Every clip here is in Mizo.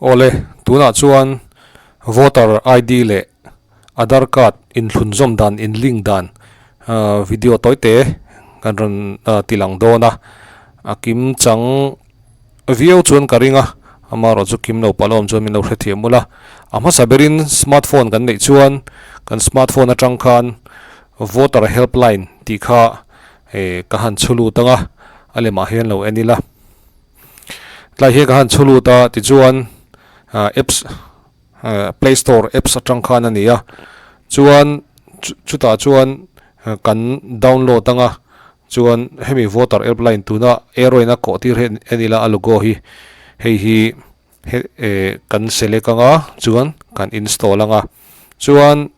Awle, tunah chuan voter ID leh aadhar card inhlunzawm dan, inlink dan video tawi te kan rawn ti lang dawn a. A kim chang viau chuan ka ring a, amarawh chu kim lo palawm chuan min lo hrethiam mul a. A hmasa berin smart phone kan neih chuan kan smart phone atang khan voter help line tih kha ka han chhu lut ang a, a lemah hian lo en ila. Tlai hian ka han chulut a tichuan apps play store apps atang khan a ni a chuan chutah chuan kan download anga chuan hemi voter help line tuna heroine a kawh tir hi a ni la a logo hi hei hi kan select anga chuan kan install anga chuan.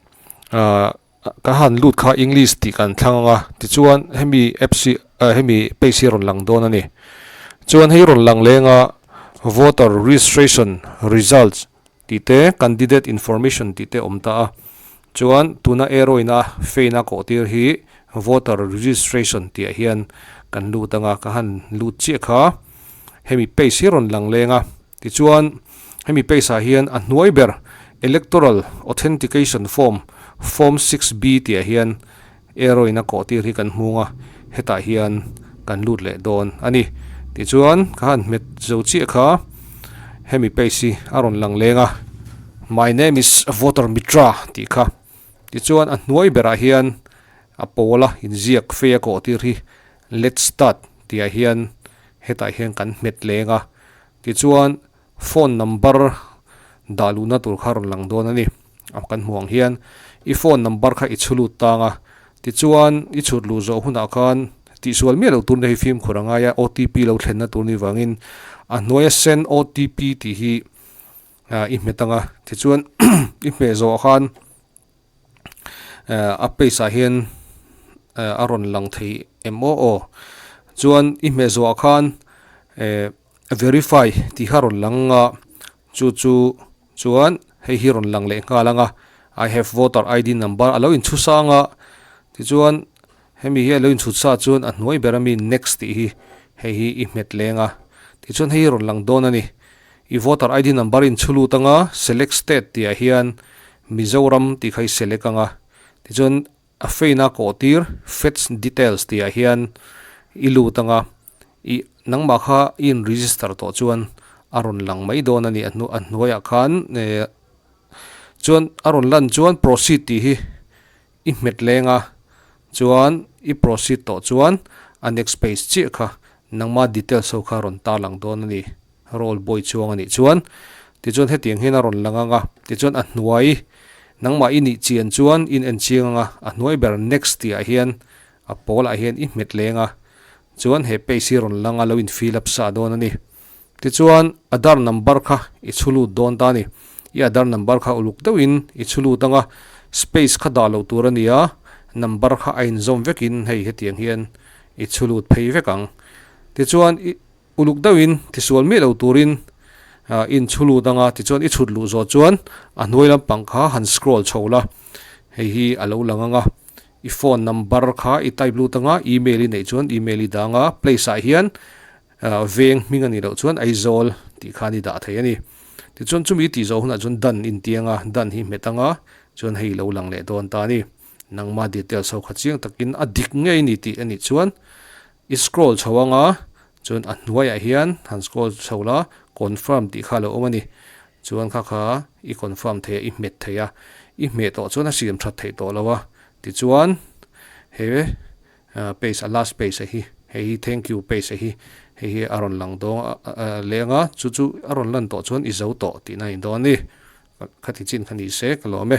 Ka han lut kha English tih kan thlang ang a, tichuan hemi apps hi ah hemi page hi a rawn lang dawn a ni. Chuan hei rawn lang lenga voter registration results tih te, candidate information tih te awm ta a, chuan tuna error ina faint a kawh tir hi voter registration tihah hian kan lut anga ka han lut chiah kha hemi page hi a rawn lang lenga. Tichuan, hemi pace-ah hian a hnuai ber Electoral Authentication Form, Form six B, tihah hian error in a kawh tir hi kan hmung a, hetah hian kan lut leh dawn a ni. Tichuan, ka han hmet zo chiah kha hemi pace hi a rawn lang leng a. My name is Voter Mitra tih kha. Tichuan, a hnuai berah hian a pawl a inziak fei a kawh tir hi Let's start tihah hian hetah hian kan hmet leng a, tichuan phone number dah luhna tur kha rawn lang dawn a ni, kan hmuh ang hian i phone number kha i chhu lut tang a, tichuan i chhut luh zawh hunah khan tihsual miah loh turna hi fimkhur a ngai a, OTP lo thlenna tur ni vangin a hnuaia send OTP tih hi i hmet ang a, tichuan i hmeh zawh khan a pace ah hian a rawn lang thei em aw aw chuan i hmehzua khan verify tih kha a rawn lang a chu chu chuan hei hi rawn lang leh nghal ang a i have voter id number a lo in chhusang a tichuan-- Hemi hi a lo inchhut sa chuan a hnuai ber a mi next tih hi hei hi i hmet leng a. Tichuan hei hi rawn lang dawn a ni. I voter ID number in chhu lut anga select state tih ah hian Mizoram tih kha i select ang a. Tichuan a fein a kaw tir fetch details tih ah hian i lut anga i nangmah kha i in register tawh chuan a rawn lang mai dawn a ni. A hnu a hnuaiah khan chuan a rawn lan chuan proceed tih hi I hmet leng a, chuan i proceed tawh chuan a next page chiah kha nangma details ho kha rawn tar lang dawn a ni, role boy chuang a nih chuan. Tichuan hetiang hian a rawn lang ang a, tichuan a hnuai nangmah i nih chian chuan in en chiang ang a, a hnuai ber next tih ah hian a pawl ah hian i hmet leng a, chuan he page hi rawn lang a lo in fill up sah dawn a ni. Tichuan, Aadhar number kha i chhulut dawn ta a ni. I Aadhar number kha uluk deuhin i chhulut anga space kha dah lo tur a nia, number kha a inzawm vekin hei hetiang hian i chhulut phei vek ang. Tichuan, i uluk deuhin tisual miah lo turin i inchhulut anga tichuan i chhut luh zawt chuan a hnuai lampang kha han scroll chho la, hei hi a lo lang ang a. I phone number kha i type lut anga email i neih chuan email i dang a, place ah hian Veng hming a nih loh chuan Aizawl tih khan i dah thei a ni. Tichuan chumi tih zawh hunah chuan Dan in tiang a, Dan hi hmet anga chuan hei i lo lang leh dawn ta a ni. Nangma details ho kha chiang takin a dik ngei ni tih a nih chuan i scroll chho anga chuan a hnuaiah hian han scroll chho la, confirm tih kha a lo awm a ni. Chuan kha kha i confirm thei a, i hmet thei a. I hmeh tawh chuan a siam that theih tawh lo a. Tichuan he. Pace a last pace a hi hei hi thank you pace a hi hei hi a rawn lang dawn a leng a chu chu a rawn lan tawh chuan i zo tawh tihna a indawn a ni kha ti chin kha ni se ka lawm e.